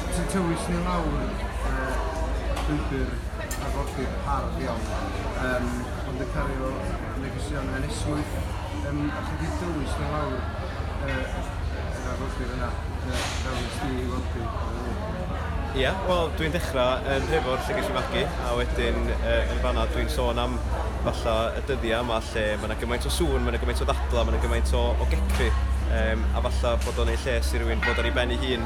Ti'n tywys ni lawr yy llwybr arfordir hardd iawn yym ond yn cario negeseuon yn esmwyth yym a chi di tywys ni lawr yy yr arfordir yna yy fel nes di i weld fi. Ia, wel dwi'n dechrau yn Nhrefor lle ges i fagu a wedyn yy yn fan'na dwi'n sôn am falla y dyddiau yma lle ma' 'na gymaint o sŵn, ma' 'na gymaint o ddadlau, ma' 'na gymaint o o gecri yym a falla bod o'n eu lles i rywun fod ar ei ben ei hun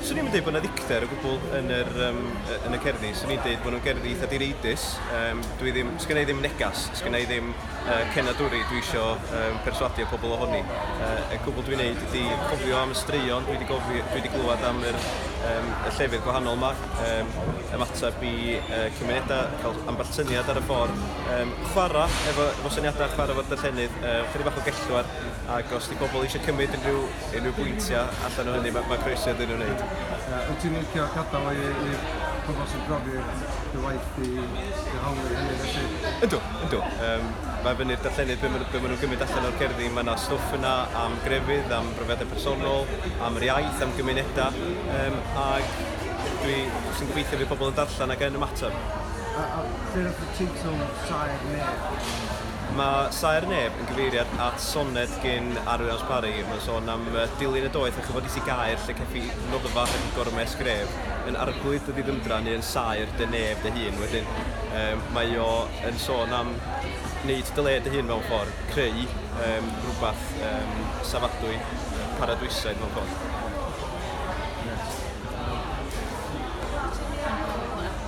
Swn i'n dweud bod yna ddicter o gwbl yn, yr, um, yn y cerddi. Swn i'n dweud bod nhw'n gerddi eitha direidus. Um, dwi ddim, sgyn i ddim negas, sgyn i ddim uh, cenadwri dwi eisiau um, perswadio pobl ohoni. Uh, y cwbl dwi'n neud ydy cofio am y straeon dwi wedi, gofi, dwi wedi glywed am yr, um, y llefydd gwahanol yma, um, ymateb i uh, cymunedau, cael ambell syniad ar y ffordd, um, chwarae efo, efo syniadau, chwarae efo'r darllenydd, uh, chydig bach o gellwar, ac os di pobl eisiau cymryd unrhyw unrhyw bwyntiau allan o hynny, mae ma croeso iddyn nhw wneud. Uh, wyt ti'n licio gadael i, i pobl sy'n profi dy waith di, dy hawlu hynny felly? Yndw, yndw. Um, mae fyny'r darllenydd beth maen ma nhw'n gymryd allan o'r cerddi. Mae yna stwff yna am grefydd, am brofiadau personol, am yr iaith, am gymunedau. Um, ac dwi sy'n gobeithio fi pobl yn darllen ac yn ymateb. A, a lle oedd y teitl Saer Nef? Mae Saer Neb yn gyfeiriad at soned gin Arwyn Alsh Parry. Mae'n sôn am dilyn y doeth a chyfod is i gaer lle ceffi noddfa heb y gormes gref, yn arglwydd dy ddiddymdra neu yn saer dy neb dy hun. Wedyn um, mae o yn sôn am wneud dy le dy hun mewn ffordd, creu um, rhywbeth um, safadwy, paradwysaidd mewn ffordd.